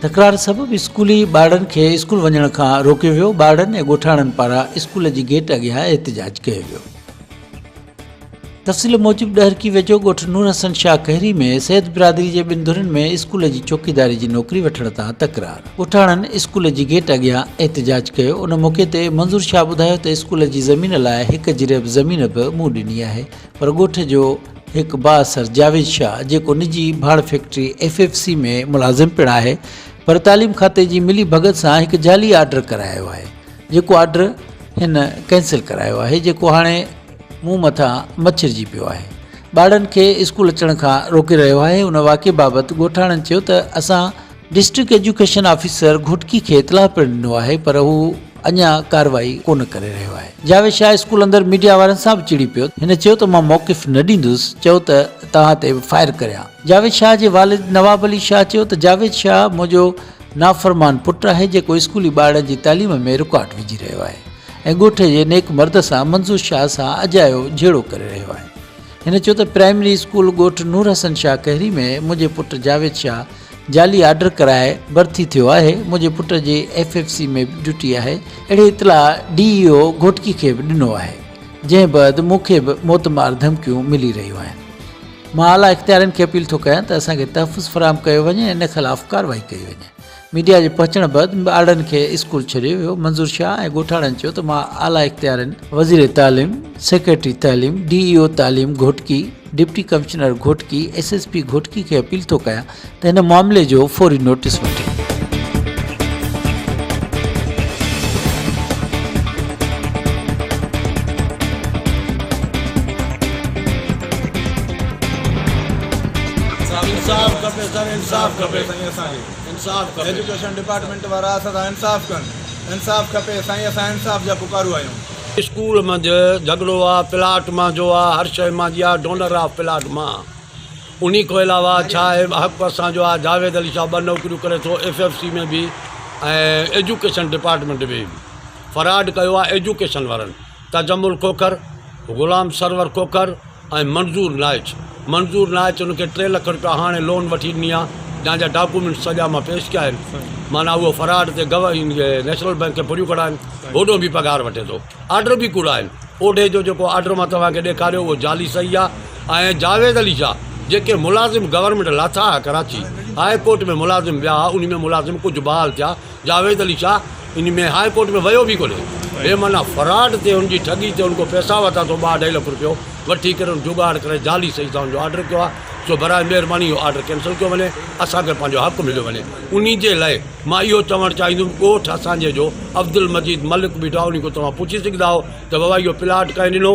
تڪرار سبب اسڪولي ٻارڙن کي اسڪول وڃڻ کان روڪيو ويو، ٻارڙن ۽ ڳوٺاڻن پاران اسڪول جي گيٽ اڳيان احتجاج ڪيو ويو. تفصيل موجب ڏهرڪي ويجهو ڳوٺ نور حسن شاهه کهري ۾ سيد برادري جي ٻن ڌرين ۾ اسڪول جي چوڪيداري جي نوڪري وٺڻ تان تڪرار، ڳوٺاڻن اسڪول جي گيٽ اڳيان احتجاج ڪيو، ان موقعي تي منظور شاهه ٻڌايو ته اسڪول جي زمين لاء هڪ جريب زمين به مون ڏني آهي پر ڳوٺ جو هڪ بااثر جاويد شاهه جيڪو نجي ڀاڙ فيڪٽري ايف ايف سي ۾ ملازم پڻ آهي پر تعليم کاتي جي ملي ڀڳت سان هڪ جعلي آرڊر ڪرايو آهي جيڪو آرڊر هن ڪينسل ڪرايو آهي جيڪو هاڻي مون مٿان مڇرجي پيو آهي ٻارڙن کي اسڪول اچڻ کان روڪي رهيو آهي ان واقعي بابت ڳوٺاڻن چيو ته اسان ڊسٽرڪٽ ايجوڪيشن آفيسر گهوٽڪي کي اطلاع پڻ ڏنو آهي پر هو اڃا ڪارروائي ڪونه ڪري رهيو آهي. جاويد شاهه اسڪول اندر ميڊيا وارن سان به چڙي پيو. هن چيو ته مان موقف نه ڏيندس، چئو ته توهان تي به فائر ڪريان. جاويد شاهه جي والد نواب علي شاهه چيو ته جاويد شاهه منهنجو نافرمان پٽ آهي جيڪو اسڪولي ٻارڙن جي تعليم ۾ رڪاٽ وجهي رهيو آهي ۽ ڳوٺ جي نيڪ مرد سان منظور شاهه سان اجايو جهيڙو ڪري رهيو آهي. هن چيو ته پرائمري اسڪول ڳوٺ نور حسن شاهه کهري ۾ منهنجي پٽ جاويد شاهه جعلي آرڊر ڪرائي ڀرتي ٿيو آهي، منهنجي پٽ جي ايف ايف سي ۾ به ڊيوٽي آهي، اهڙي اطلاع ڊي اي او گهوٽڪي کي به ڏنو آهي، جنهن بعد مون کي به موت مار ڌمڪيون ملي رهيون آهن، مان اعليٰ اختيارين کي اپيل ٿو ڪيان ته اسان کي تحفظ فراهم ڪيو وڃي ۽ ان خلاف ڪارروائي ڪئي وڃي، ميڊيا جي پهچڻ بعد ٻارڙن کي اسڪول ڇڏيو ويو، منظور شاهه ۽ ڳوٺاڻن چيو ته مان اعليٰ اختيارين، وزير تعليم، سيڪريٽري تعليم، ڊي اي او تعليم Ghotki, deputy commissioner Ghotki S S P Ghotki کي اپيل ٿو ڪيان ته هن معاملي جو فوري نوٽيس وٺي. انصاف کپي سر انصاف کپي سائين اسان کي انصاف کپي ايجوڪيشن ڊپارٽمينٽ وارا اسان سان انصاف ڪن انصاف کپي سائين اسان انصاف جا پڪارو آهيون. اسڪول منجھ جھڳڙو آ پلاٽ مان جو آ ھر شئي مان جي آ ڊونر آف پلاٽ مان آ انھي کون علاوه ڇا اھي حق اسان جو آ جاويد علي شاھ ٻھ نوڪريون ڪري ٿو ايف ايف سي ۾ ڀي ۽ ايجوڪيشن ڊپارٽمينٽ ۾ ڀي فراڊ ڪيو آ ايجوڪيشن وارن تجمل کوکر غلام سرور کوکر ۽ منظور نائچ منظور نائچ ان کي ٽي لک روپيا هاڻي لون وٺي ڏني آ جنهن جا ڊاڪومينٽس سڄا مان پيش ڪيا آهن معنيٰ اهو فراڊ تي گوه نيشنل بينڪ کي ڦريون ڪڙا آهن هوڏو به پگهار وٺي ٿو آرڊر به ڪوڙا آهن اوڍي جو جيڪو آرڊر مان توهان کي ڏيکاريو اهو جعلي صحيح آ ۽ جاويد علي شاهه جيڪي ملازم گورنمينٽ لاٿا آ ڪراچي هاء ڪورٽ ۾ ملازم ويا آ انهي ۾ ملازم ڪجهه بحال ٿيا جاويد علي شاهه ان ۾ هاء ڪورٽ ۾ ويو به ڪونهي بي معنيٰ فراڊ تي ان جي ٺڳي تي ان کان پئسا ورتا اٿئون ٻه اڍائي لک روپيو وٺي ڪري ان جگاڙ ڪري جعلي سئي سائن جو آرڊر ڪيو آهي سو براء مهرباني اهو آرڊر ڪينسل ڪيو وڃي اسان کي پنهنجو حق مليو وڃي ان جي لاء مان اهو چوڻ چاهيندم ڳوٺ اسان جي جو عبدالمجيد ملڪ بيٺو آهي ان کان توهان پڇي سگهندا آهيو ته بابا اهو پلاٽ ڪنهن ڏنو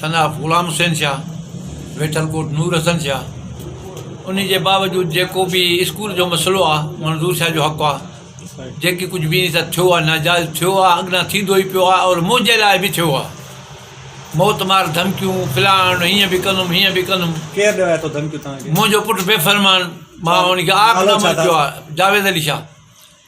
سن آف غلام حسين شاهه، ويٺل ڪوٽ نور حسن شاهه، انهي جي باوجود جيڪو به اسڪول جو مسئلو آ منظور شاهه جو حق آ جيڪي ڪجهه به انهي سان ٿيو آ ناجائز ٿيو آ اڳنا ٿيندو ئي پيو آ اور منهنجي لاء به ٿيو آ موت مار ڌمڪيون فلان هيئن به ڪندم هيئن به ڪندم ڪير ڏيو آ اٿو ڌمڪيون توهان کي منهنجو پٽ بي فرمان مان انهي کي آخ نامرد ڪيو آ جاويد علي شاهه